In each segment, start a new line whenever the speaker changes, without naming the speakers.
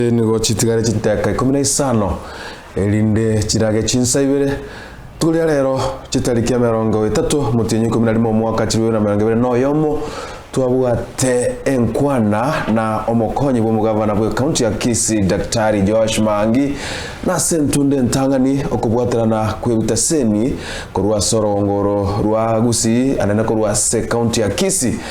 Echi nigo chitigare chinteeka ikomi na isano, erinde chirage chinsa ibere. Toria rero, chitariki emerongo etato motienyi ikomi na rimo omwaka chilifu bibere na emerongo ebere na oyomo, twabwate enkwana na omokonyi bw'omogavana bw'ekaunti ya Kisii Daktari Joash Maangi na ase entunda entang'ani okobwaterana kw'ebitasemi korwa ase orogongoro rwa Gusii naende korwa ase ekaunti ya Kisii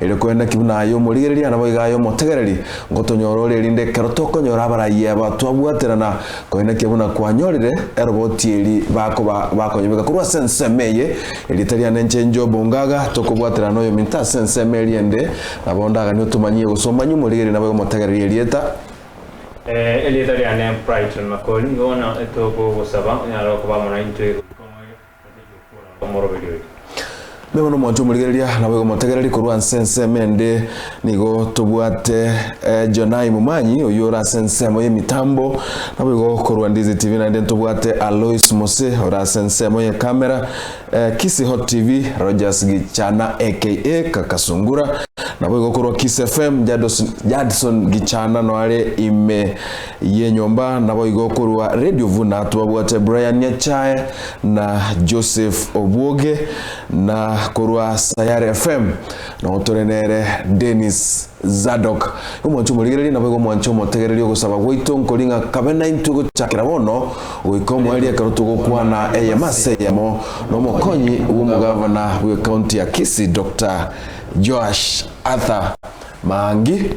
Erio korende ki buna aye omorigereria naboigo aye omotegereri, ngotonyora ore erinde ekero tokonyora abarayia aba twabwaterana, korende ki buna kwanyorire eroboti eri bakoba bakonyebeka korwa ase ensemo eye, erieta riane nche Jobu ngaga tokobwaterana noyominto ase ensemo eria ende, nabo ndaganie otomanyie gose omanyie omorigereria naboigo omotegereri erieta. Erieta riane Brighton Makori, nigo bono tokogosaba
onyare okoba amo naintwe goika omoerio. omoroberio
oye. Nigo nomonto omorigereria, naboigo motegereri korwa nse ensemo ende. Nigo tobwate Jonai Mumanyi oyio ore ase ensemo y'emitambo, naboigo korwa Ndizi TV naende ntobwate Alois Mose ore ase ensemo y'ekamera, Kisii Hot TV Rogers Gichana aka Kakasungura, naboigo korwa Kisii FM Jadson Gichana noare ime y'enyomba, naboigo korwa Radio Vuna twabwate Brian Nyachae. na Joseph Obuoge na korwa Sayare FM nao tore nere Dennis Zadok. Omwancho omorigereria naboigo omwancho omotegereria ogosaba gwaito nkori ng'a kabe naintwe gochakera bono goika omwaria ekero togokwana eyemo ase eyemo nomokonyi bw'omogavana bwe county ya Kisii Doctor Joash Arthur Maangi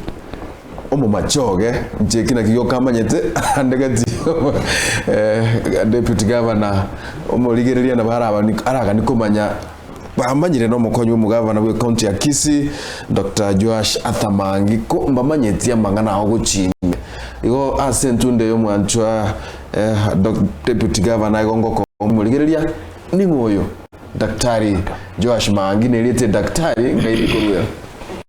Omomache oge inche eki naki gioka amanyete ande gati eh deputy governor omorigereria nabo arabani aragani komanya bamanyire na omokony bwa omogavana bwe county ya Kisii Doctor Joash Arthur Mangi ko mbamanyeti amang'ana ao gochia ime igo ase entunda eye omwanchwa eh doc deputy governor igo ngoko omorigereria ning'o oyo Daktari Joash Mangi neriete Daktari ngai rikorwe.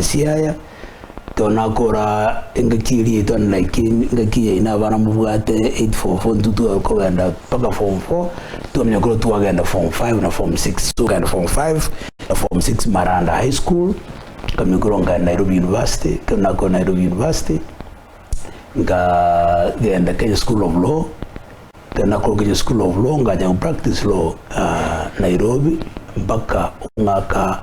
Siaya tonakora engaki eria yaito like engaki yaino abana mobwate 8 form 4 intwe tware kogenda mpaka form 4 twamanya korwa twagenda form 5 na form 6 togenda form 5 na form 6 maranda high school nkamanya korwa nkagenda nairobi university ekero nakorire nairobi university nkagenda kenya school of law ekero nakorire kenya school of law nkacha kopractise law nairobi mpaka omwaka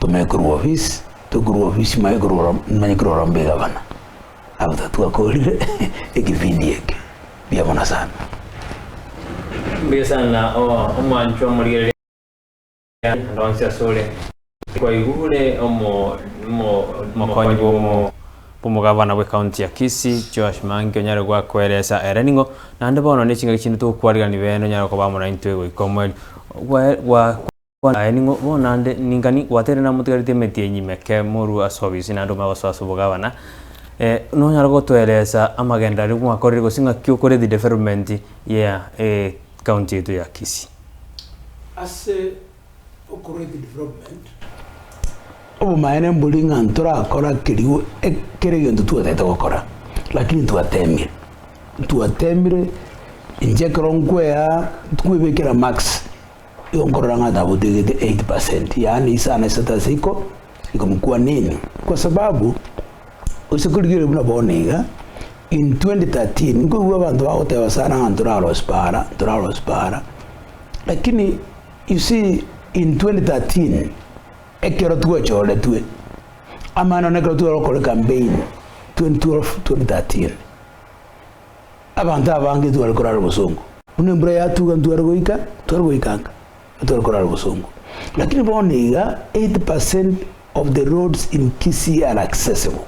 Tome korwa ofisi, tome korwa ofisi manye korwa oro, manye korwa orombe egabana. Abatato twakorire ekebindi eke buya mono sana. Mbuya
sana oo omwanchwa omorigereria ande ande onsi asore. Twaigure omo omo omokonyi bw'omo bw'omogavana bw'ecounty ya Kisii Joash Mangi onyare gwakoeresa ere ning'o naende bono ne chingaki chinde togokwarigani bende onyare koba amo naintwe goika omweri gwa gwa Bono aye ning'o bono nde ningani gwateire namotigareti emetienyi meke morue ase obisi naende omanye gosoa ase obogabana? Eh, nonyare gotoeresa amagendo aria mwakorire gose ng'aki okore the development ya ecounty yaito ya Kisii? Ase
okora the development, obomaene mbori ng'a ntorakora kerigo ekere egento twatagete gokora lakini twatemire, ntwatemire inche ekero nkwea nkwebekera marks. Yonkorora ng'a tagotegete 8 percent, yaani isano isato ase iko, ikomokwanini. Kwa sababu, gose korigereria buna bono iga, in 2013 nkoigwa abanto bagoteba sana ng'a ntorarosie paara, ntorarosie paara, lakini you see in 2013 ekero twachoretwe, amang'ana nokere tware gokora ecampaign 2012, 2013. Abanto abange tibare korara obosongo. Buna embura yatuga ntware goika, tibare goikanga, tibare korara obosongo. Lakini bono iga 80 percent of the roads in Kisii are accessible.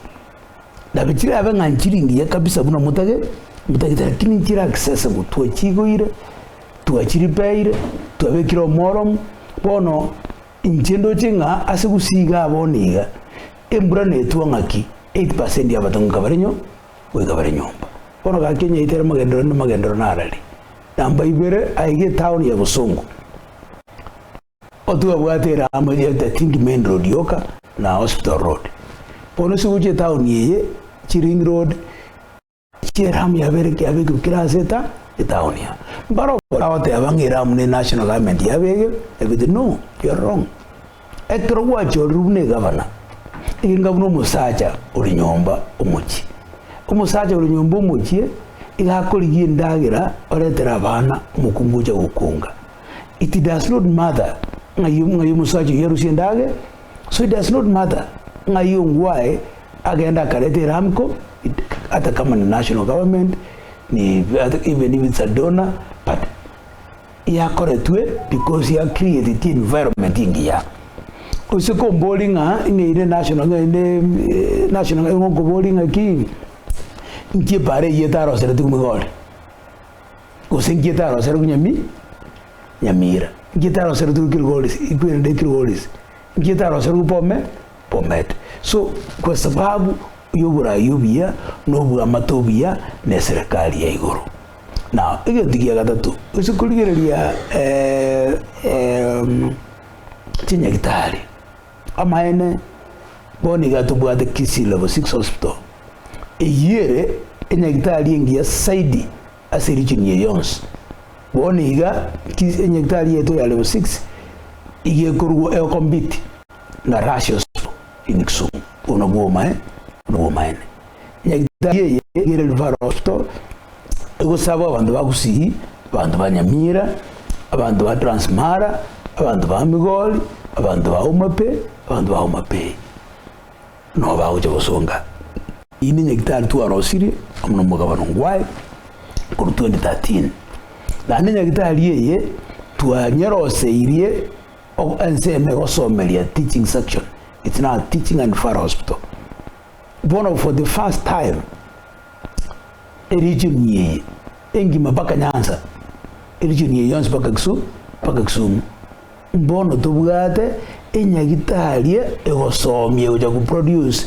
Nabe chirabe ng'a nchiri ngiya kabisa buna motage, motagete lakini nchire accessible. Twachigoire, twachiripeire, twabekire omoromo. Bono inche ndoche ng'a ase Gusii igaa bono iga, embura netwa ng'aki 80 percent ya abato ng'a kabare nyo, goika bare nyomba. Bono gaki onye aitera mogendero inde mogendero narari namba ibere aige etaoni ya bosongo, otwebwate eraamo etaete tindi main road yoka na hospital road. Bono ase gochia etaoni eye chi ring road echi eramu yabere yabekirwe kera ase eta etaoni aa. Mbare abagoteba ng'a eramu ne national government yabegire, yabete no, you are wrong. Ekero gwachorire buna egavana, enga buna omosacha ore nyomba omochie. Omosacha ore nyomba omochie iga akorigia endagera oretere abana omokungu ocha gokunga. It does not matter ng'ai ng'ai omosacha oyio arusie endagera, so it does not matter ng'ai ongwae agende akarete eramco ata kama ni national government ni even if it's a donor but yakoretwe because ya created environment engiya ose kombori ng'a ng'a ere national ng'a ere national ng'a igonkobori ng'aki nki ebara eyio etarosereti nigo ore gose nki etarosere buna mi nyamira nki etaroseretwe ekero ore ase ekero ore ase nki etaroserwe bobe. Bomet. So kwa sababu yoborai obuya nobwamate obuya neserekari ya igoro. Na egento gia gatato gose korigereria chinyagitari amaene bono iga tobwate Kisii Level Six Hospital eyio ere enyagitari engiya saidi ase region eye yonsi. Bono iga enyagitari yaito ya Level Six iga ekorwa egokompiti. na Russian School in Kisumu, Obwo nobwo omoe nobw'omaene. Nyagetari eye yere Rivarosto egosaba abanto ba Gusii, abanto ba Nyamira, abanto ba Transmara, abanto ba Migori, abanto ba Homape, abanto ba Homabay nabo bagocha gosonga inde Nyagetari twarosirie amo nomogabano ngwaye korwa 2013. Naende Nyagetari eye twanyeroseirie. Obo ensemo egosomeria teaching section it's now a teaching and referral hospital bono for the first time e region eye engima mpaka Nyanza e region eye yonsi mpaka Kisumu mpaka Kisumu bono tobwate enyagitarie egosomia gocha ku produce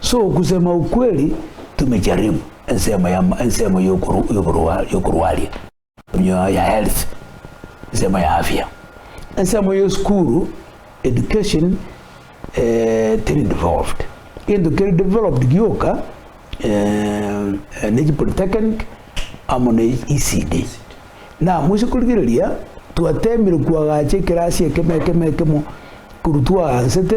So okusema okweri tumejaribu ensemo ya ensemo yokorwa yokorwaria onyo ya health ensemo ya afya ensemo yo skuru education eh, teri involved gento keri developed gioka eh, nechi polytechnic amo ne ECD na mwise korigereria twatemire kwagacha ekerasi ekemo ekemo ekemo koru twagansete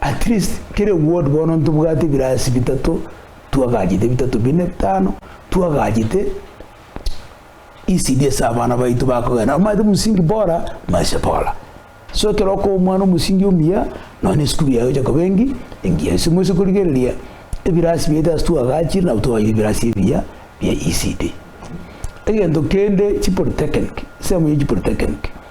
At least kera eward bono ntobwate ebirasi bitato twagachete bitato bine bitano twagachete ECD ase abana baito bakogenda omanyete musingi bora maisha bora so ekero okoba omwana omosingi omuya nonya esukuru yaye egocha koba engi engiya ase moise korigereria ebirasi biaito ase twagachire nabo twagachire ebirasi ebiya bia ECD. Egento kende chipolitechinic ensemo ya chipolitechinic.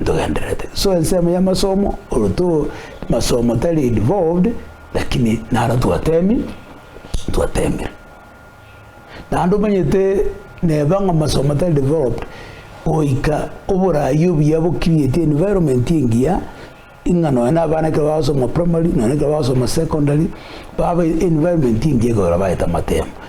Ntogendererete so ensemo y'amasomo oroto masomo tari involved lakini naro twatemi twatemire naende omanyete neba ng'a masomo tari developed goika oborayi obuya bokirieti environment engiya ing'a nonya na abana ekero bagosoma primary nonya ekero bagosoma secondary babe environment engiya ekero bagete amatemo.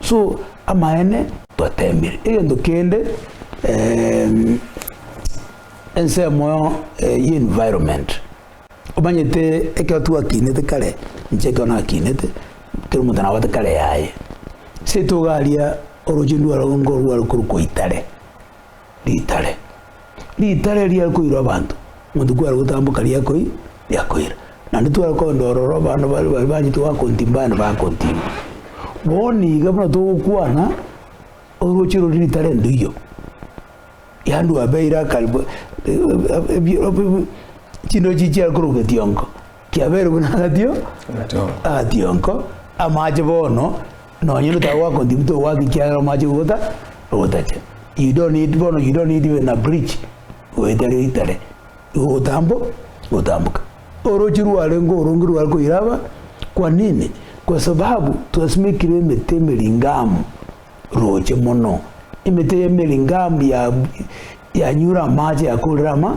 So amaene twateemire egento kende ensemo y'environment, omanyete ekero twakinete kare inche ekero nakinete kera omonto nabwate kare yaye, seto iga aria oroche ndwarenge korwa korokwa itare. ritare. Ritare riare koirwa abanto, monto kware gotamboka riakoi riakoira. Naende tware kondora oro abana bare bare bachete goa kontimba abana bakontimba. Bono iga buna togokwana oroche rore ritare nduiyo. Yande obeire akare bo chindori chichia korwa getiongo. Kiabeire buna agatio, agationko, amache bono, nonye onde tagwakonti buto gwaka ekiagera omache gogota, ogotache. You don't need, bono you don't need even a bridge, goeta ere ritare, igo ogotambo, gotamboka. Oroche rwarenge oronge rware koira aba, kwa nini? Kwa sababu twasimekire emete emeringaamu roche mono. Emete eye emeringaamu ya, yanyure amache yakorera ama,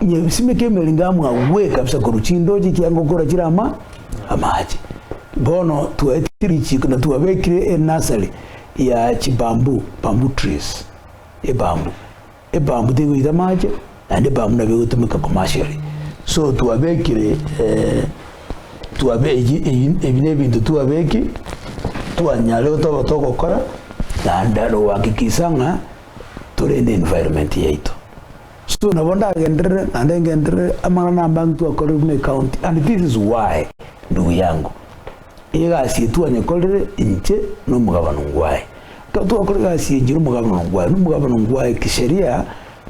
nyebisime kiemerenge amo agwe kabisa korwa chindoche ekianga okora chire ama amache bono twaetire richiko na twabekire enasari ya chibambu bambu trees ebambu ebambu tegoita amache naende ebambu nabo egotumeka commercially so twabekire eh, twabe eyi ebi na ebinto twabeki twanyare otoba togokora naende rogoakikisa ng'a tore ne environment yaito. So nabo ndagenderere naende ngenderere amang'ana na abanto akorerwe ne county and this is why ndugu yangu egasi eye twanyekorire inche na omogabana ongwaye ekero twakora egasi eye inche na omogabana ongwaye na omogabana ongwaye kisheria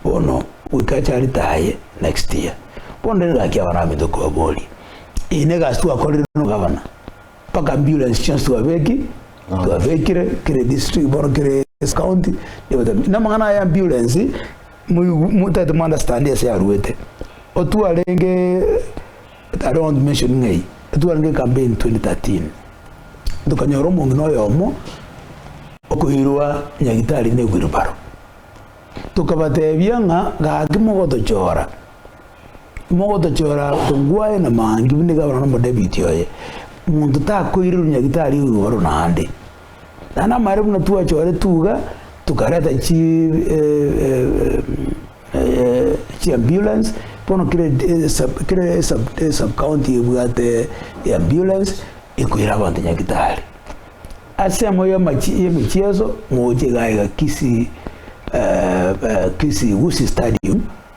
bono goika acharete aye next year bono rero gaki abanto baminto kobaboria eye ne egasi twakorire na omogabana. mpaka ambulance chionsi twabeki twabekire kere district bono kere county namang'ana aya ambulance motete mo understand ase yarwete otwarenge I don't want to mention ng'ai otwarenge campaign 2013 tokanyora omong'ina oyomo okoirwa nyagitari ne wheelbarrow tokabatebia ng'a gaki mogotochora Mogotochora kongwa aye na maangi buna igabana nomo David oye, monto takoirerwa nyagitari o igoro naende. Naende amaere buna twachoretwe iga, tokareta chi chi ambulance, bono kera esub kera esub esub county ebwate eambulance ekoira abanto nyagitari. Ase emo yamachi yemechieso mogochie iga iga Kisii Kisii Gusii stadium.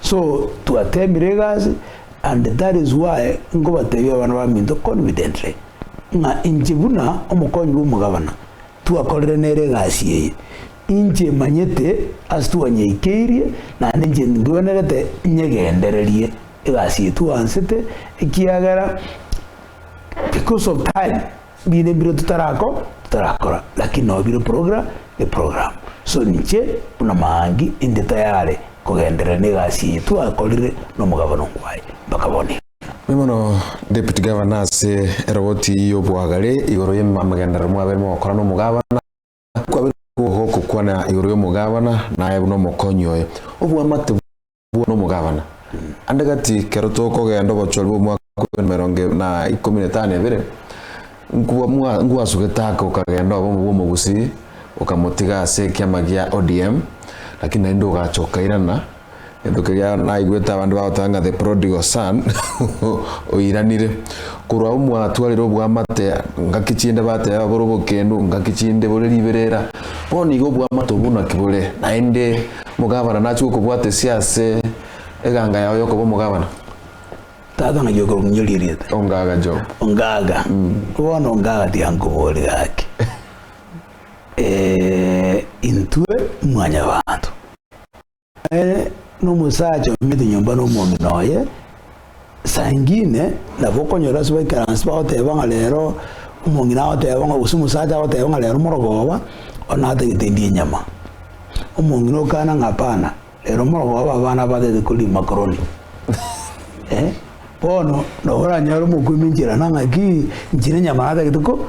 So twateemire egasi and that is why nkobateebia abana baminto confidently ng'a inche buna omokonyi bw'omogabana twakorire nere egasi eye. Inche manyete ase twanyeikeirie naende inche ndwenerete nyegendererie egasi eye twaansete ekiagera because of time. Mbino ebiro totarako totarakora lakini noo bire progra e program so inche buna maangi inde tayare kogenderera negasi eye twakorire nomogabana omwaye mpaka bono iga. Mbuya mono
Deputy Governor ase eroboti y'obwagare igoro y'amagenderero mwabeire mogokora nomogabana. Kwabire obogogo ogokwana igoro y'omogabana, naye buna omokonyi oye. Obwamate bwao nomogabana. Ande gati kero tokogenda obochori bw'omwaka bw'ebianda emerongo na ikomi na etano ebere, Ngwasu Getaaka okagenda obomo bw'omogusii okamotiga ase ekiama gia ODM, lakini naende ogacha okairana Gento keria naigwete abande bagoteba ng'a the prodigal son oiranire. Korwa omwatwarire oboamate ngaki chinde bateba bore obokendu ngaki chinde bore riberera. Bono igo oboamate obwo naki bore naende omogabana nachia gokobwata esia ase eganga yao yokoba omogabana. Tata ng'ai okominyoririete? Ongaga Job. Ongaga. Bono ongaga tiga nkoborie gaki. Intwe mwanyabanto. Ere nomosacha omanyete nyomba nomwomino oye, saa ingine nabo okonyora ase baikaransi bagoteba ng'a rero omong'ina agoteba ng'a gose omosacha agoteba ng'a rero morogoba ona atagete ndie nyama. Omong'ina okana ng'a hapana, rero morogoba abana abatagete koria makoroni. Bono nabo oranyore omokuia ominchire nang'aki, inchire nyama natagete ko.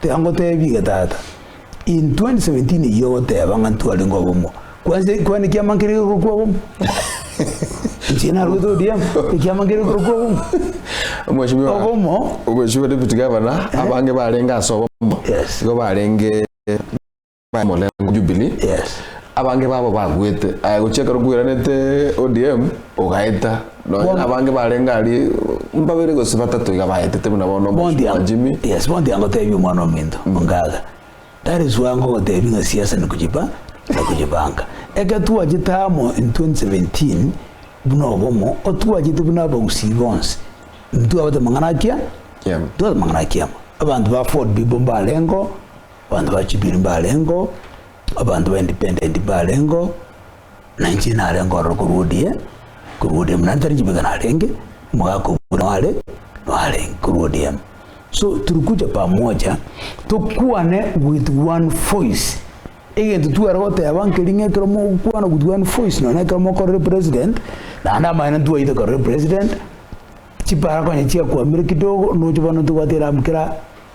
Tingoteebie tata, in 2017 eyio ogoteba ng'a ntwarenge obomo. Kwanse kwane kiama nkere gekorokwa obomo. Inche narwete ODM, ekiama nkere gekorokwa obomo. Mheshimiwa, Obomo. Mheshimiwa Deputy Governor, abange barenge ase obomo. Yes. Igo barenge Omorengo Jubilee, Yes. abange babo babuete aya gochia ekero kweranete ODM ogaeta nonya Bono. abange barenge aria mbabere gose batato iga baetete buna bono Bondi omochie wa ang- Jimmy Yes, bondi angotebia omwana ominto ongaga. That is why ngogotebi ng'a siasa ni kujipa na kujipanga. Eke twachete amo in 2017 buna obomo otwachete buna abagusii bonsi. Ntwabate mang'ana akia? Kiama. Ntwabate mang'ana akiamo. Abanto ba Ford bibo mbarengo Abanto ba Jubilee mbarengeo, abanto ba Independent mbarengeo, na inche narenge ororo korwa odie, korwa odie buna ntari chibweka narenge, omogaka obo buna nare, narenge korwa ODM. So tulikuja pamoja tokwane with one voice, egento tware goteba nkeri'ng'a ekero mogokwana with one voice nonye na ekero mokorire president, naende amang'ana ntwaite korire president, chiparaga onye chiakwamire kidogo, nocha bono ntobwate eramu kera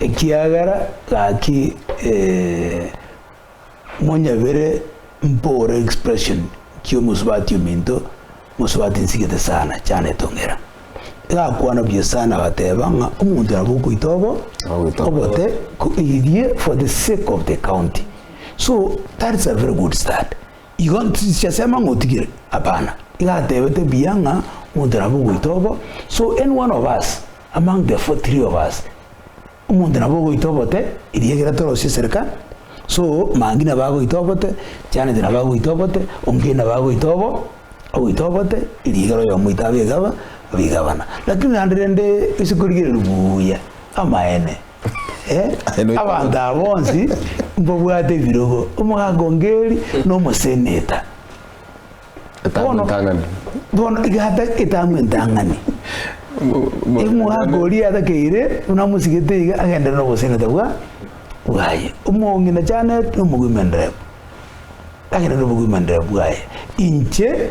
Ekiagera gaki ee monyebere mpore expression kiomosubati ominto mosubati nsigete sana chane tong'era egakwana buya sana agateba ng'a omonto nabo okoita obo Ogoita obote. obote ko iririe for the sake of the county so that is a very good start. Igo tisiasema ng'a otigire, abana, iga atebete buya ng'a omonto nabo ogoita obo, so any one of us among the four three of us, omonto nabo ogoita obote, eria ekero torosie esereka, so Mangi nabo agoita obote, Janet nabo agoita obote, Ongei nabo agoita obo, agoita obote, eria ekero oyomo oito abe egaba, abe egabana. Lakini naende rende ase korigereria buya, Amaene, abanto aba bonsi mbabwate ebirogo, omogaaka o Ngeri na omoseneta. Bono, bono egata etang'wa entang'ani. Omogaaka oria atakeire buna amosigete iga agenderere noboseneta bwa bwaye. Omoong'i na Janet na omogw'emenderero agenderere nobogw'emenderero bwaye. Inche.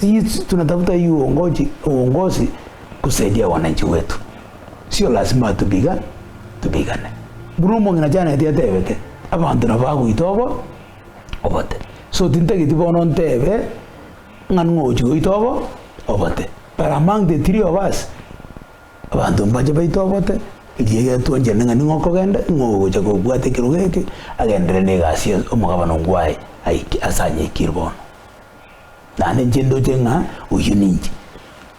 Sisi tunatafuta hii uongoji, uongozi kusaidia wananchi wetu, sio lazima atupiga tupigane. Buna omong'ina Janet atebete, abanto nabo bagoita obo obote, so tintageti bono ntebe ng'a ning'o ogochi goita obo obote, but among the three of us abanto mbache baite obote eria getwanchane ng'a ning'o okogenda ning'o ogocha kobwate ekerogo eke agenderere na egasi ya omogabane ongwaye aike ase anyekire bono. Naende inche ndoche ng'a oyio ninche,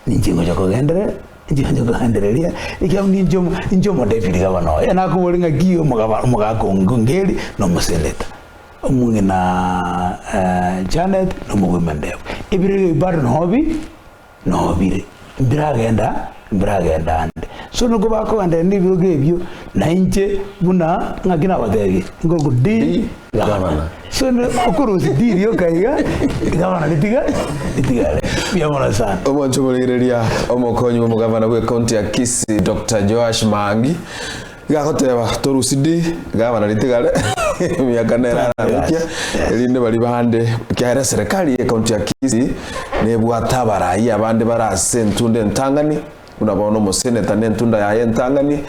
ninche ngocha kogenderera, ninche ngocha kogendereria, ekiagera ninche omo, ninche omodepiri gabana oye, nakoboria ng'aki omogaba, omogaka oo ngongeri na omoseneta, omong'ina Janet na omogwema Ndegwa, ebirego ebi bado noo bi. nobire, mbiragenda mbiragenda ande. So nokwo bakoganderera nebirogo ebio, na inche buna ng'aki nabatebirie, nkoku Ndi gavana. So ne okorosia Ndi rioka iga, gavana ritiga ritigare. Mbuya mono sana. Omonto borigereria,
omokonyi bw'omogavana bw'ecounty ya Kisii, Doctor Joash Maangi, Gagoteba, Torusi di, iga barareti gare emiaka nera arabaikia, erinde baria bande, ekiagera eserekari y'ecounty ya Kisii nebwate abarai abande bare ase entunda entang'ani, buna bono omoseneta nentunda yaye entang'ani,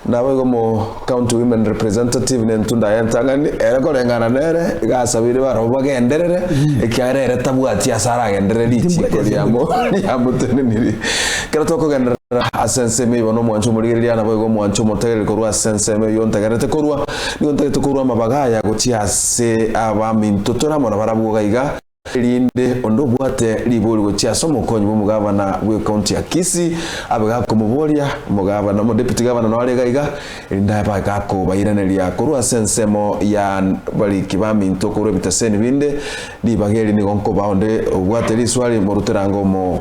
naboigo omo county women representative nentunda yaye entang'ani, ere koreng'ana nere iga asabeire barabwo bagenderere, ekiagera ere tabwati ase aragenderere richiiko riamo riamotenenirie. Ekero tokogenderera ase ensemo eyio bono omwancho omorigereria naboigo omwancho omotegereri korwa ase ensemo eyio ntagerete korwa, nigo ntagete korwa amabaga aya gochia ase abaminto tore amo nabarabwo iga iga, erinde onde obwate ribori gochia ase omokonyi bw'omogavana bw'ecounty ya Kisii abe gakomoboria, omogavana, omodepiti gavana nao are iga iga, erinde abe gakobairaneria korwa ase ensemo ya abariki baminto korwa ebiteseni binde, ribaga eri nigo nkobaa onde obwate riswari morute rango omo.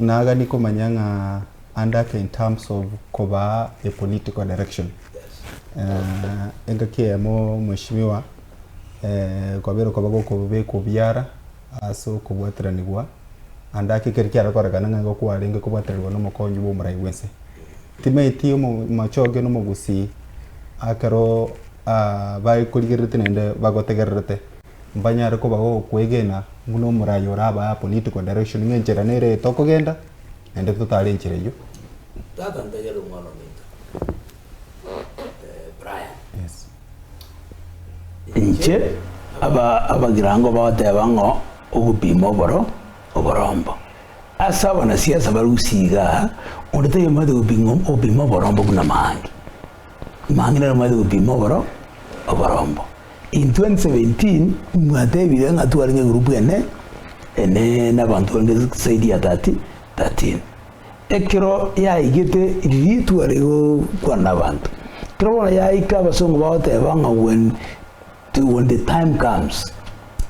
Nagani komanya ng'a andake in terms of kobaa a political direction. Engaki eyemo mweshimiwa kwabera okoba gokobekwa obiara ase okobwataranigwa andake ekero kiare korekana ng'a igo kwarenge kobwataranigwa na omokonyi bwa omorai bwense. Timanyeti omochoge na omogusii akero bare korigererete naende bagotegererete. Mbanyare kobao okwegena buna omoraia orabae a political direction ng'a enchera nere eye tokogenda naende totare enchera eyio. Tata
ntebia ore omwana omoito Brian. Yes.
Inche
aba abagirango bagoteba ng'o ogopima oboro oborombo. Ase abana siasa barusia igaa, onde tayomanyete goping'o gopima oborombo buna maangi. Mang'ina nere mwaete gotiima oboro oborombo. In 2017 mwatebire ng'a tware ng'egurupu ene ene nabanto barenge zaidi ya 30, 13. Ekero yaigete riria tware gokwana nabanto, kero bono yaika abasongo bagoteba ng'a when Till when the time comes,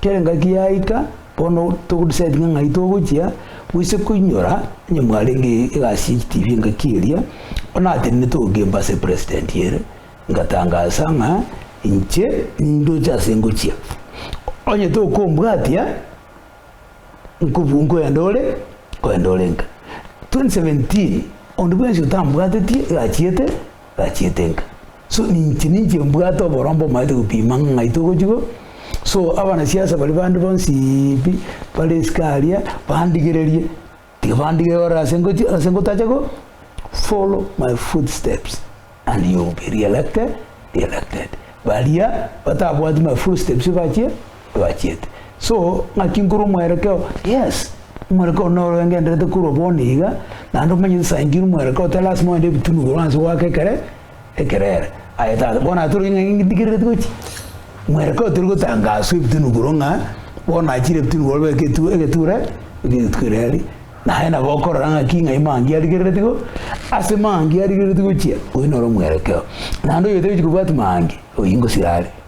kera engaki yaika, bono togo decide ng'a ng'ai togochia goise koinyora, onye mwarenge egasi ye chitibi engaki eria, bono natenene togokemba ase president ere, ngatangasa ng'a inche nindoche ase ngochia, onye tokombwatia nkobu nkoenda ore nkoenda orenka. 2017 onde bwensi otambwatetie erachiete. tachiete nka. So ninche ninche mbwate oborombe omaete gopima ng'a ng'ai togochia ko so abanasiasa baria bande bonsi pi bare esike aria bandigererie tiga bandigere ore ase ngochi ase ngotacha ko follow my foot steps and you will be re-elected, elected. Baria batabwati my foot steps bachie. Twachiete so ng'aki nkorwa omwerekeo yes omwerekeo noro engenderete korwa bono iga naende omenye nsa inche ere omwerekeo tari lasima ogende ebitunu igoro anse goaka ekere ekerere aye tata bono ase torenge ng'a ng'itigerereti gochi mwerekeo tori gotangaswa ebitunu igoro ng'a bono achire ebitunu igoro beka etu egeture erio rituko erio riaria naye nabo okorora ng'aki ng'ai Mangi arigerereti go ase Mangi arigerereti gochia oyio noro omwerekeo naende oyio otagochi kobwati Mangi oyio ngosira are.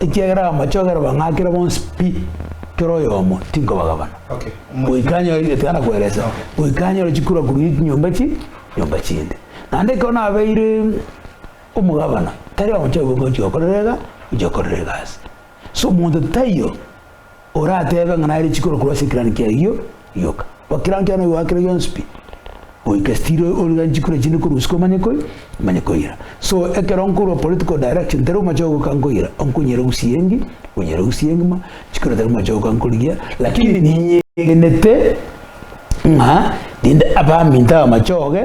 ekiagera amache ogere bang'akere bonsi pi, kera oyomo tinkobagabana, goika
anyore egetegana
kweresa, goika anyore chikura korwa nyomba chi nyomba chinde. Naende ekero nabeire omogabana, tari omochie goika gochia gokorera iga, gochia gokorera egasi. Ase omonto taiyo. Orateebe ng'a naye richiko rokorwa ase ekirani kiaye gio rioka. Bo kirani kiaye noyoa kere gionsi pi. Goika still origa nchiko ore chinde korwa usiku omanye koi omanye koira. So ekero nkorwa political direction teri omoche ogoka nkoira onkonyire gusie engi onyire gusie engima nchiko ere teri omoche ogoka nkorigia lakini ninyegenete ng'a rinde abaminto abamachoge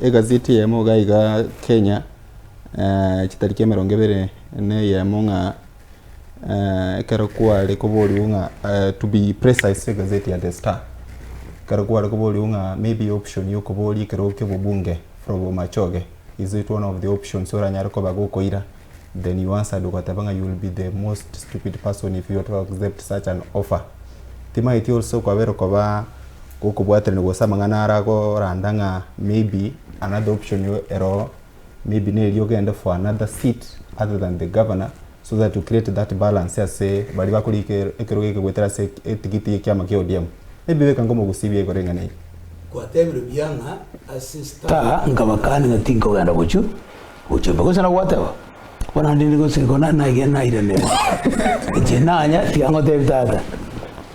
Egazeti eyemo iga iga Kenya, eh, chitariki emerongo ebere neyemo ng'a eh, ekero kware koborigwe ng'a eh, to be precise egazeti ya The Star ekero kware koborigwe ng'a maybe option ya okoboria ekero okia obobunge from Bomachoge is it one of the options oranyare koba gokoira Then you answered ogateba ng'a you will be the most stupid person if you were to accept such an offer. Timaeti also kwabera koba gokobwaterania gose amang'ana aragoranda ng'a maybe another option ero maybe neri ogende for another seat other than the governor so that to create that balance ase baria bakore ekerogo eke goetera ase etigiti y'ekiama kia ODM. Maybe beka nkomogusia ebiya igoro eng'ana eye. Kwatebirie buya
ng'a ase star. Nkabakania ng'a tinkogenda gochia Gochia imbe gose na gwateba, Bono naende nigo nse ekero naigire nairanera. Inche nanya, tiga ngotebie tata,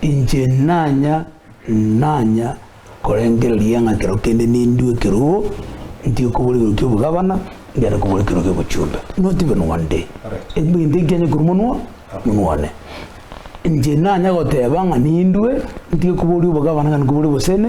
inche nanya, nanya korengereria ng'a ekero kende nindue ekerogo, ntige kobora ekerogo ki'obogabana, ngende kobora ekerogo ki'obochumbe. Not even one day. Egento ekio nkianye korwa monwa, monwa one. Inche nanya goteba ng'a nindue, ntige koboria obogabana, ngende kobora obosene,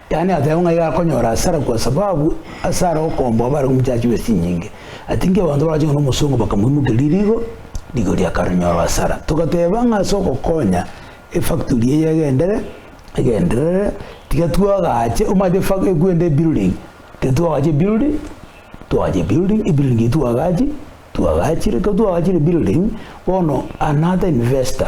Yaani ateba ng'a iga akonyora hasara kwa sababu ase are okomba obare omochachi bwe chinyinge. Ati inki abanto bagacha ng'a nomosongo bakamoimokeria rigo, rigo erio akaronyora hasara. Togateba ng'a ase ogokonya efactory eye egendere, egenderere, tiga twagache, omanyete efactory ekwenda ebuilding, tiga twagache ebuilding, twagache ebuilding, ebuilding eyio twagachi, twagachire, ekero twagachire ebuilding, bono an ata investor,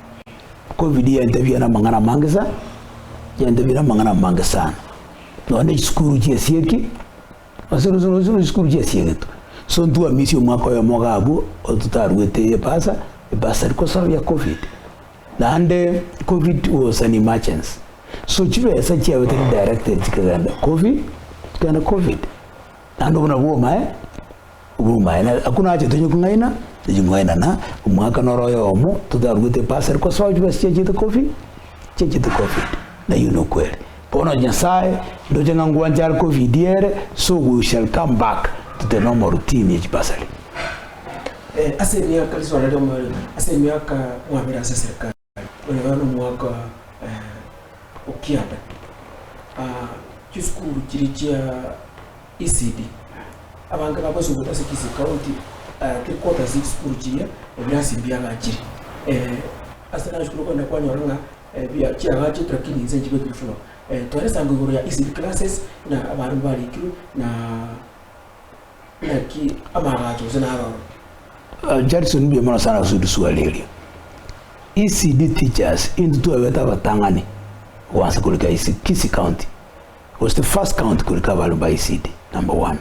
Covid yaintebirie namang'ana amange sana, yaintebirie namang'ana amange sana, nonya na chisukuru chiesieki, ase rosi rosi rosi chisukuru chiesiegetwe, so ntwamisie omwaka oyomo iga abwo ototaruete ebasa, ebasari kosababia ya covid. Naende covid was an emergency, so chibesa chiago tari directed chikagenda covid, chikagenda covid, naende obwo nabwo omae. Oborumaene akwo nache tonye kong'aina, tonye kong'aina na omwaka noro oyomo totaruete epasari kwa soa chibesa chiachete covid, chiachete covid naiyo nokweri. Bono Nyasaye ndoche ng'a ngwanche are covid ere so we shall come back to the normal routine ya chibasari.
Ase emiaka risoa naria omoerio ase emiaka mwabere ase serikali. Oyo nomwaka o kianda. Chisukuru chiria chia ECD abange bagosubete ase Kisii County three quarters ye chisukuru chiria ebirasi mbiagachire. Ase nachire okogenda kwanyora ng'a chiagachete lakini inse nchibekire full. Tore esango igoro ya ECD classes buna abana mbarikirwe na. Naki amabati gose naroro. Judson
mbuya mono sana gose riswali erio. ECD teachers into twabete abatang'ani gwansa korika ECD Kisii County was the first county korika abare ba ECD number one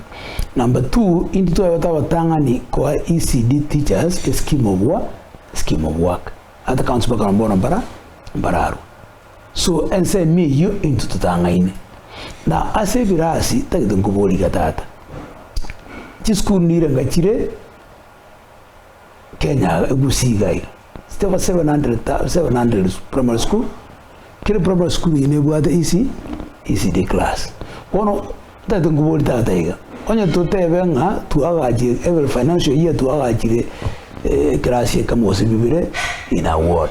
number two into twabete abatang'ani koa ECD teachers a scheme of work scheme of work at counts bakana mbona mbara mbararwa So ensemo eyio intwe totang'aine, na ase ebirasi tagete nkoboriga tata. Chisukuru nire nga chire Kenya iga, Gusii iga iga, chiteba seven hundred ta seven hundred primary school, kera primary school eye nebwate EC, ECD class. Bono tagete nkoborie tata iga, onye totebe ng'a twagache every financial year twagachire ekerasi ekemo gose bibere in a ward.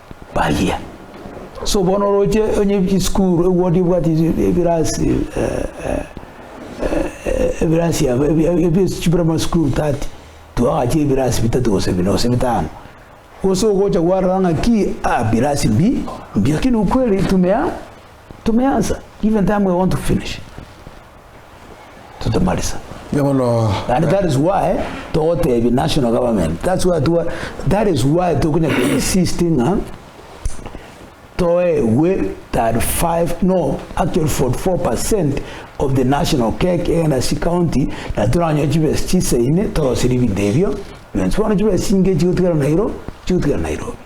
baria. So bono oroche onye chisukuru ewodi ebwati ebirasi ebirasi aba chiprimary sukuru tati twagacha ebirasi bitato gose bine gose bitano gose ogocha kwarora ng'aki aa birasi mbi mbi lakini ukweli tumea tumeansa even time we want to finish. totamarisa. Erio bono And that is why togotebia national government that's why twa that is why tokonya to insist ng'a toegwe 35 no actually 44% of the national cake egenda ase county na toranyoe chibesa chisaine toroseri ebinto ebio bionsi bono chibesa chinge chigotigara Nairo chigotigara Nairobi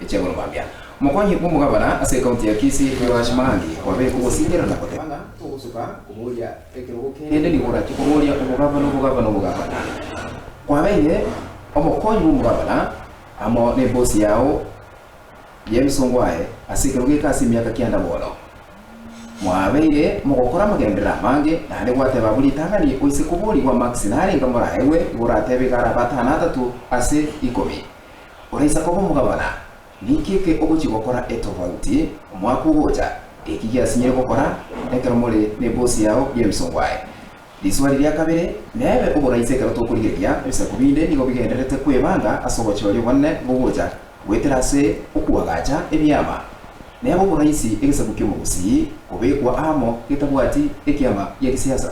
Cheboro Bambia, omokong'u bw'omogabana ase ekaunti ya Kisii, Joash Maangi, kwabekwa ogosingira na goteba ng'a togosuka koboria ekerogo kende nigo orachie koboria obogabana obogabana obogabana. Kwabeire omokong'u bw'omogabana amo n'ebosi yao y'emisongo aye ase ekero geka ase emiaka kianda bono. Mwabeire mogokora amagenderero amange naende gwateba buri ritang'ani oise koborigwa marks narenge moraegwe igo oratebe iga arabe atano atato ase ikomi. Oraisa koba omogabana? Ninki eke ogochia gokora etofauti omwaka ogocha? Eki giasinyire gokora ekero more nebosi yao y'emisongo aye. Riswali ria kabere, Nebe oboraisa ekero tokorigereria ebisaku binde nigo bigendererete kwebanga ase ogochooria obonene bogocha goetera ase okoagacha ebiama. Nebe oboraisi egesaku ki'omobosii kobekwa aamo getabwati ekiama gia gisiasa.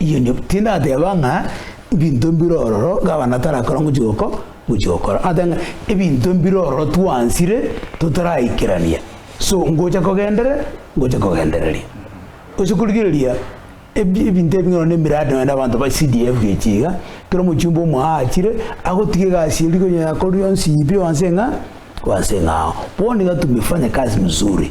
Inye tindateba ng'a ebinto mbire ororo gavana tarakora ngochia goko ngochia gokora. Nateba ng'a ebinto mbire ororo twansire totaraikerania, so ngocha kogendere ngocha kogendereria. Gose korigereria ebi ebinto ebi nonye na emiradi nonye na abanto ba CDF echi iga, kera omochumba omo aachire agotiga egasi eria konye yakorire yonsi pi wanse ng'a wanse ng'a ao. Bono iga tumefanye kazi mzuri.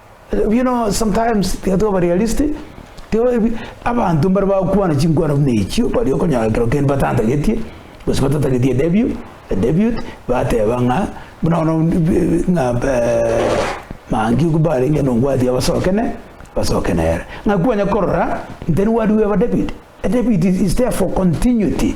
You know sometimes tiga twaba realistic, tiga ebi abanto mbare bagokwana chinkwana buna echio, baria okonyora ekero kende batantagetie, gose batatageti edebut, edebut, bateba ng'a buna bono ng'a mangi ogo mbarenge nobwati abasoke ne, basoke nere. Ng'a kwanya korora, intended word we have a debut, a debut is is there for continuity.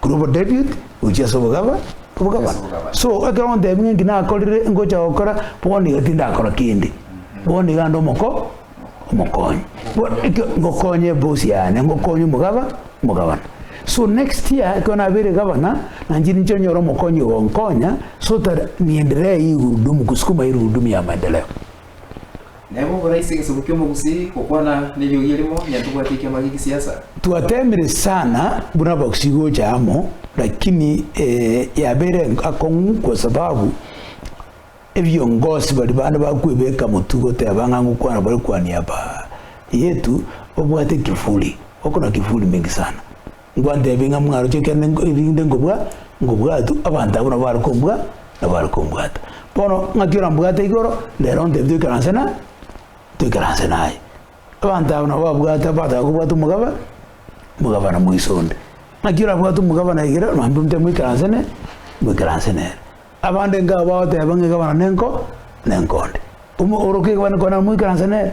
Korwa obo David gochia ase obogaba obogabana. So ekero ontebia ng'a eki nakorire ngocha gokora, bono iga tindakora kende. Bono iga ande omoko omokonyi. Bono ekio ngokonye eboss yane, ngokonye omogaba omogabana. So next year ekero nabeire gavana, nanche ninche onyore omokonyi ogonkonya so that niendelee hii gurudumu kusukuma hii gurudumu ya maendeleo. Naye
bokora ase egesaku ki'omogusii, gokwana neriogi erimo, onye tobwati ekiama gie gisiasa. Twatemire
sana buna abagusii gocha amo, lakini eh, yabeire akong'u kwa sababu ebiongosi baria bande bakwebeka motwe goteba ng'a ngokwana bare kwania aba yetu, obwate kifuli, oko na kifuli mingi sana. Inkwantebia ng'a mwaroche ekiagera erinde nkobua nkobwatu abanto abwo nabo bare kombua nabo bare kombwata. Bono ng'aki orambwate igoro rero ontebie toikaranse na toikaranse naye. Abanto aba nabo babwate bataka kobwata omogaba omogabana moiso onde. Ng'aki orabwate omogabana igere naende ontebie moikaranse ne moikaranse nere. Abande nkago bagoteba ng'a egabana nenko nenkonde. Omo orokia egabana enkonde nabo moikaranse nere.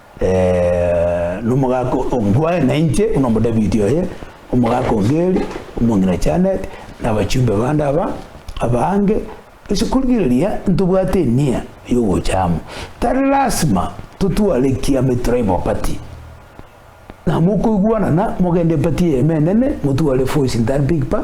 Nomogaka o Ngwae na inche buna Omodavidi oye, omogaka o Geri, omong'ina Janet, na abachumbe bande aba abange, ase korigereria ntobwate enia y'ogocha amo, tari lasima totware ekiama Etraima Opati. Na mokoigwanana, mogende Epati y'Eema Enene, motware Voice Ntar Big Bar,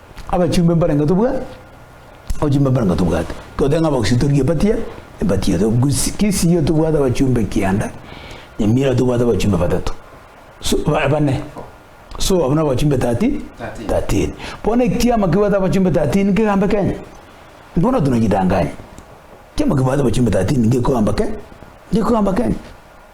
Abachumbe mbare ng'a tobwa abachumbe mbare ng'a tobwate. Totebe ng'a abagusii tori ebatia ebatia to gusi kisii yo tobwate abachumbe kianda nyamira tobwate abachumbe batato so ba bane so abwo na abachumbe tati tatin. Bono ekiama kebwate abachumbe tatin kegambe Kenya bono tonajidanganye ekiama kebwate abachumbe tatin ngekogamba ke ngekogamba Kenya.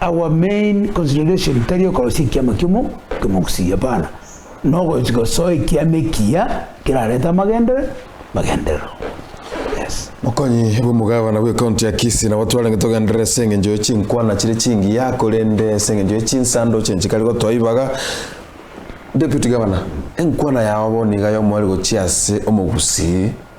Our main consideration tari okorosia ekiama kiomo kemogusii, hapana, nogochi gosoa ekiama ekiya kerarete amagendere magenderero. Yes. Mokonyi bw'omogabana
bw'ecounty ya Kisii nabo twarenge togenderere ase eng'encho ye chinkwana chire chingiya korende ase eng'encho ye chinsando chinchi kare gotoa ibaga Deputy Governor, enkwana yao bono iga yomo ere gochia ase omogusii?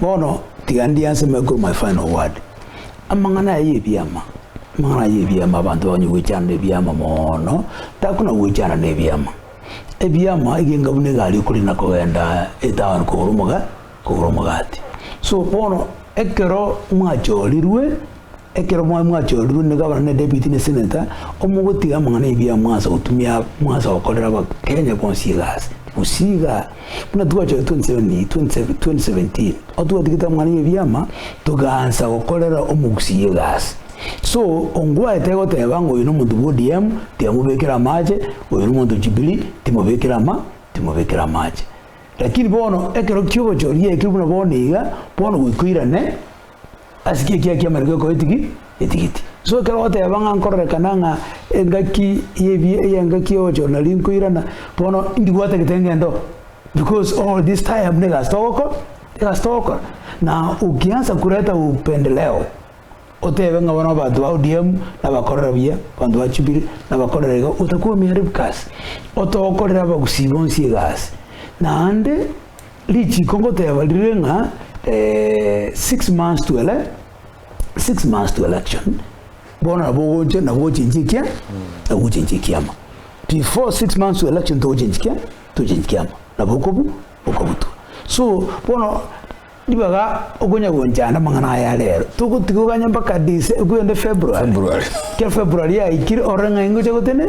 Bono tiga ndianse make of my final word, amang'ana aya y'ebiama, amang'ana aya y'ebiama abanto bakonye goechana nebiama moono, takona goechana nebiama. Ebiama egenga buna egari okore na kogenda etown kogora omoga kogora omogati. So bono ekero mwachorirwe Ekero mwabe mwachorirwe ne gavana ne deputy ne senator, omogotiga amang'ana y'ebiabu mwansa gotumia mwansa gokorera Abakenya bonsi egasi. Gose iga, buna twachorirwe 2017 aho twatigete amang'ana y'ebiama togaansa gokorera omogusii egasi. So ongwae tegoteba ng'a oyo nomonto bwa ODM tiamobekera amache, oyo nomonto o Jubilee timobekera ama timobekera amache. Lakini bono ekero ki'obochoria ekio buna bono iga, bono goika oirane, Ase ki ekiagera ki'amariko ekoetigi etigiti? So ekero ogoteba ng'a nkororekana ng'a engaki y'ebi y'engaki y'ogochora nari nkoirana, bono ndibwate gete ngento because all this time buna egasi togokora egasi togokora na ukianza kureta upendeleo otebe ng'a bono abanto ba ODM nabakorera buya, abanto ba Jubilee nabakorera iga, otakwomia ribu kasi, otokorera abagusii bonsi egasi naende. Richiko ngoteeba rire ng'a six months to ele six months to election bono nabo ogocha nabo ochenchie ekia nabo ochenchie ekiama before six months to election togochenchi kia togochenchi ekiama nabo okobu okobutwa so bono ribaga okonya gonchanda amang'ana aya are ero togotiga oganye mpaka Dece kende February February ekiagera February yaikire ore ng'a ingocha gotende.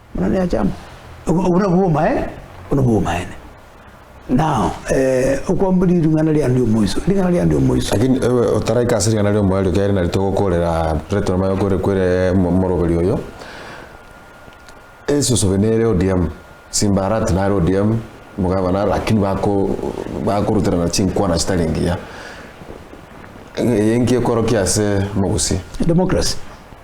Buna neachama, obwo nabwo obomaene, obwo nabwo obomaene. Nao okwambwa ring'ana riande omoiso, ring'ana riande omoiso. Lakini ewe otaraika ase ring'ana ri'omoerio ekero ere narito gokoorera Plato nonya gokoorera kwere omoroberi oyo, esosobe nere ODM, Simba Arati nare ODM, Mugaba nare lakini bako bakoruterana chinkwana chitari ngiya. Eye enki ekorokia ase omogusii? Democracy.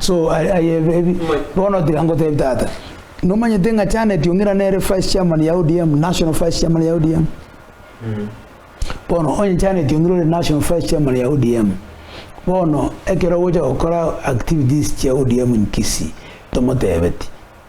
So aye aye ebi bono tiga ngotebi tata nomanyete ng'a Janet Ong'ina nere vice chairman ya ODM national vice chairman ya ODM bono onye Janet Ong'ina ore national vice chairman ya ODM bono ekero ogocha gokora activities chia ODM in Kisii tomotebeti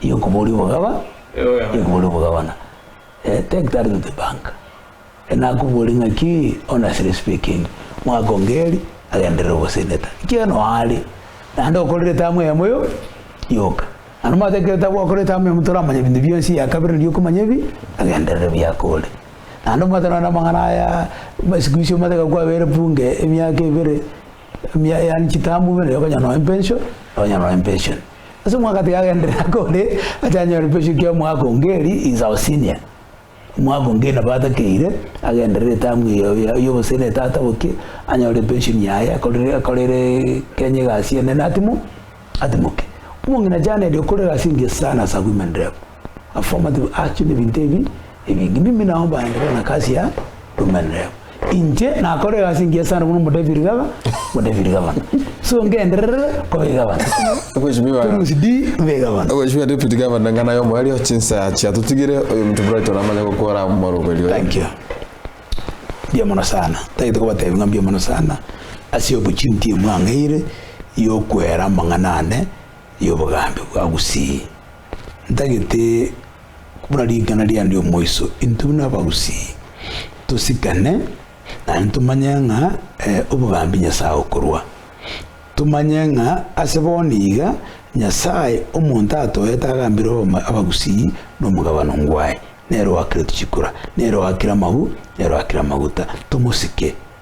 Iyo nkoboria obogaba, iyo nkoboria obogabana. Eh, take that to the bank. Eh, nakoboria ng'aki, honestly speaking, mwaka ongeri agenderere ogoseneta. Ekiagera noo are, naende okorire tamu eyemo yo yoka. Naende omanyete ekero taba okorire tamu eyemo toramanya ebinto bionsi, eya kabere neri okomanya ebi agenderere biaka ore. Naende omanyete nonye na amang'ana aya, buna siku hizi omanyete ekero kwabere bunge emiaka ebere, emia yaani chitambu buna ekero okonyora nonye pension, okonyora nonye pension. Ase omwaka tigagenderera akore ache anyore pesu kia omwaka onge eri insa osinia. Omwaka onge nabo atakeire agenderere etamu eye oye oye oboseri na etata bokie anyore pension yaye akorere akorere Kenya egasi ene natimo atimoke. Omong'ina chane erio okore egasi engiya sana as a women rep. Affirmative action Ebinto ebi ebinge mimi nao bande bare na kasi ya rumenreo. Inche nakore egasi engiya sana buna omodepiri gaba omodepiri gabana. So ngenderere koba egabana. Obochimi bwa
Torusi di mbe egabana. obochimi bwa deputy governor ng'a naye omoerio chinsa achia totigire oyominto Brighton amanye gokora omoroberi oye. Thank you.
Mbuya mono sana. Tagete kobatebi ng'a mbuya mono sana ase opportunity emwang'eire yokwera amang'ana ane yobogambi bwa gusii. Ntagete buna ring'ana riane omoiso, intwe buna abagusii tosikane, naende tomanye ng'a obogambi Nyasae okorua. Tomanye ng'a ase bono iga Nyasae omonto atoete agambire abagusii na omogabano ngwaye, nere oakire tochikura, nere oakire amagu, nere oakire amaguta. Tomosike.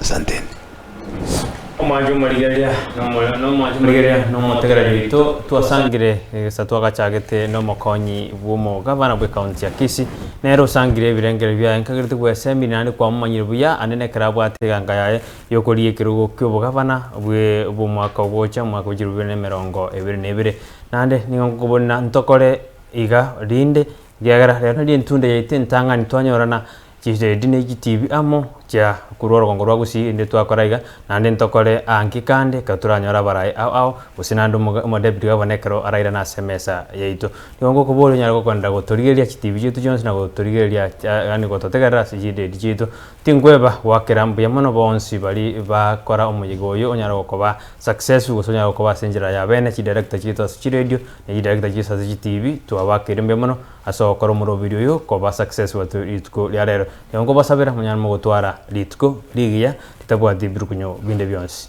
Asanteni.
Omwancha omorigereria nomo- nomwancha omorigereria nomotegereria oito, twasangire egesaku twagachagete nomokonyi bw'omogabana bw'ecounty ya Kisii. Nere osangire ebirengererio biaye nkagerete bw'esemi naende kwamomanyire buya ande nekero abwate eganga yaye y'okoria ekerogo ki'obogabana bwe bw'omwaka ogocha omwaka wa chirobibere na emerongo ebere na ebere. Naende nigo nkobonera ntokore iga rinde, ekiagera rero nari entunda yaito entang'ani twanyorana Chiredi ne chitibi amo chia korwa orogongo rwa gusii inde twakora iga, naende ntokore aa nki kande ekero toranyore abaraai ao ao, gose naende omoga Omodebiri oye bono ekero arairane ase emesa yaito. Nigo ngokoboria onyare gokoenda gotorigereria chitibi chiaito chionsi na gotorigereria chia yaani gototegerera ase chiredi chiaito. Tinkweba goakera mbuya mono bonsi baria bakora omoyega oyio onyare gokoba successful gose onyare gokoba ase enchera ya bene chidirector chiaito ase chiredio na chidirector chiaito ase chitibi twabakeire mbuya mono, Ase ogokora omorobiri oyo koba success watu rituko ria rero, nigo nkobasabera monyare mogotwara rituko rigiya ritabwati birukunyo binde bionsi.